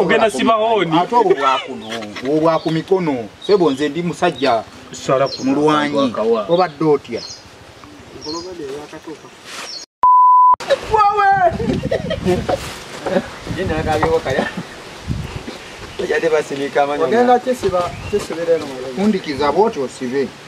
ogenda sibahooni ate obwo bwakuno obwo bwaku mikono sebo nze ndi musajja mulwanyi obadde otya undikiza bwoti osibe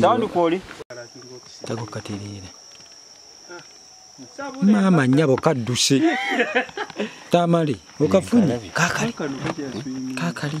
tawundi kwoli tako katereera maama nyabo kadduse tamale okafunye kakali kakali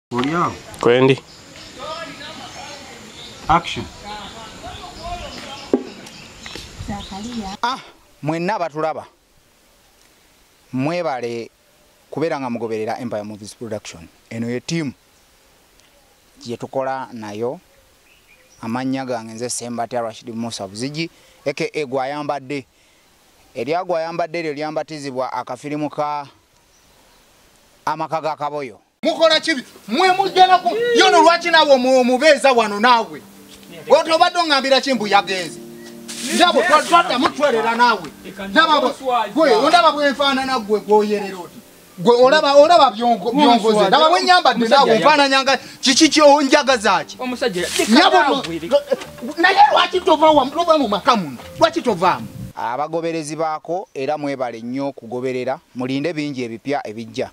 Olyawo. Kwendi. Action. Ah, mwenna abatulaba mwebale kubeera nga mugoberera empire movies production eno ye tiimu gyetukola nayo amannya gange nze sembatya rashid musa buzigi aka gwayambadde eryagwayambadde eryo lyambatizibwa akafirimu ka amaka ga kaboyo mukola kibi mwe mujjana ku yono lwaki nawe omubeeza wano naawe oti obadde ongambira kimbu yagenze ndabo twata mutwerera naawe ndaba bwenfaanana gwe gwoyerera oti gwe olaba olaba byongoze ndaba bwenyambadde naawe nfaananyanga kiki kyonjagazaki naye lwaki tovaoba mu maka muno lwaki tovaamu abagoberezi baako era mwebale nnyo okugoberera mulinde bingi ebipya ebijja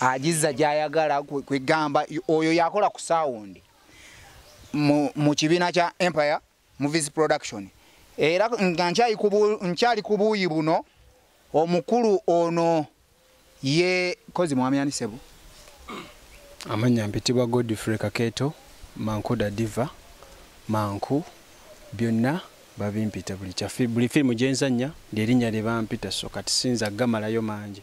agizza gyayagala kwegamba oyo yakola ku sawundi mu kibiina kya empire movies production era nga nkyali ku buuyi buno omukulu ono ye kozi mwami ani sebo amanya mpitibwa godfrey kaketo manku dadiva manku byonna babimpita buli kyafi buli firimu gyenzannya lyerinnya lye bampita so kati sinza gamalayo mangi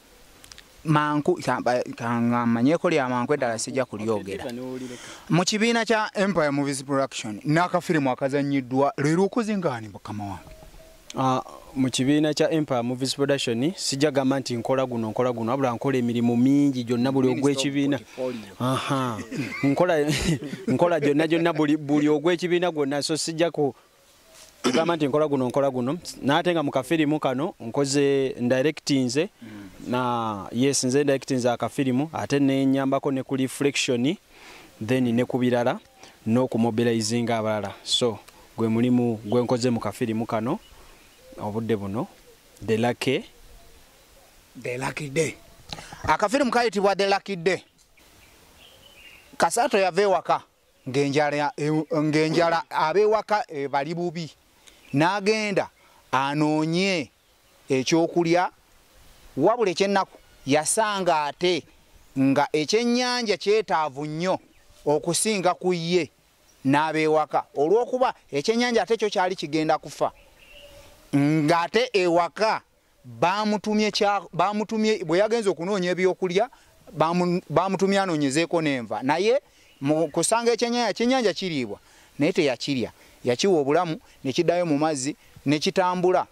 manku kamanyeko lya manku eddala sijja kulyogera mu kibiina kya empire movies production n'akafirimu akazannyiddwa leero okuzingaani mukama wange ah, mu kibiina kya empire movies production sijja gamba nti nkola guno nkola guno wabula nkola emirimu mingi gyonna buli ogw'ekibiina nkola gyonna gyonna buli ogw'ekibiina gwonna so sijja ku ogamba nti nkola guno nkola guno naate nga mukafirimu kano nkoze ndirectinze na yes nze ndirectinze akafirimu ate nenyambako ne ku reflection then ne kubirala n'okumobilizinga abalala so gwe mulimu gwe nkoze mu kafirimu kano obudde buno the lucky the lucky day akafirimu kayitibwa the lucky day kasaato yava ewaka ng'enjala ab'ewaka eh, bali bubi n'agenda anoonye ekyokulya wabula ekyennaku yasanga ate nga ekyennyanja kyetaavu nnyo okusinga ku ye n'abeewaka olw'okuba ekyennyanja ate kyo kyali kigenda kufa ng'ate ewaka bamutumye kya bamutumye bwe yagenze okunoonya ebyokulya bamutumye anoonyezeeko n'enva naye mu kusanga ekyenyanja kyenyanja kiriibwa naye teyakirya yakiwa obulamu ne kiddayo mu mazzi ne kitambula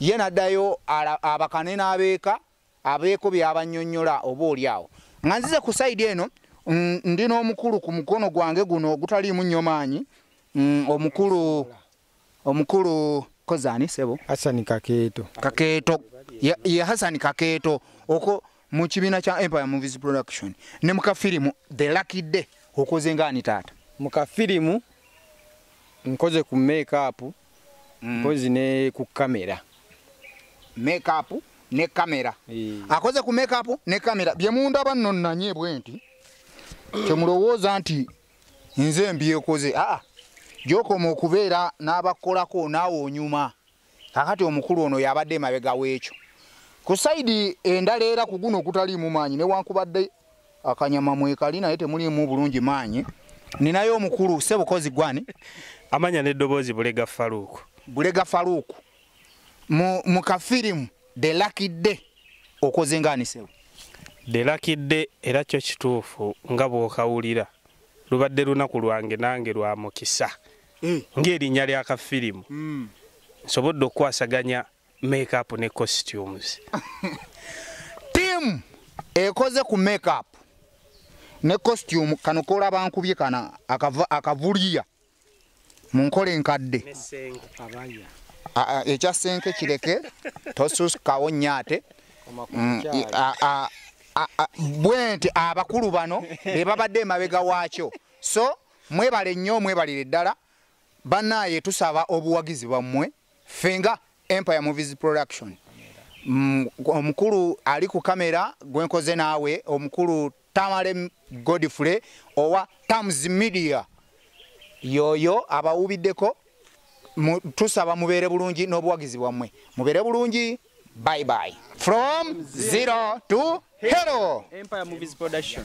ye n'addayo abakane n'abeeka abeeko byabannyonnyola oba oli awo nga nzize ku sayidi eno ndi n'omukulu ku mukono gwange guno ogutaliimu nnyo maanyi omukulu omukulu kozi ani sebo hasani kakeeto kakeeto ye yeah, hasani kakeeto oko mu kibiina kya empire movies production ne mu kafirimu the lucky day okoze ngaani taata mu kafirimu nkoze ku makeup mm. nkozi ne ku kamera makeup ne kamera e. akoze ku makeup ne kamera byemundaba nno nanye bwenti kyemulowooza nti nze mbyekoze aa gyokoma okubeera n'abakolako naawe onyuma kakati omukulu ono yabadde emabega w'ekyo ku saidi endala era ku guno ogutaliimu maanyi newankubadde akanyama mwekali naye temuliimu bulungi maanyi ninayo omukulu sebukozi gwani amanya n'eddoboozi bulega faluuku bulega faluuku mu mu kafirimu the lucky day okoze ngaanisewo the lucky day era kyo kituufu nga bwokawulira lubadde lunaku lwange nange lwa mukisa eh. ng'erinnya lya kafirimu mm. nsobodde okukwasaganya makeup ne costumes tiamu ekoze ku makeup ne costume kano kola bankubye kana akavuliya mu nkola enkadde ekya senke kireke tosuskawo nnyo ate mm, bwenti abakulu bano be babadde emabega waakyo so mwebale nnyo mwebalire ddala bannaaye tusaba obuwagizi bwammwe fenga empire movies production mm, omukulu ali ku kamera gwenkoze naawe omukulu Tamale Godfrey owa Tams Media yoyo abawubiddeko tusaba mubeere bulungi n'obuwagizi bwammwe mubeere bulungi bye bye from zero to hero Empire Movies Production.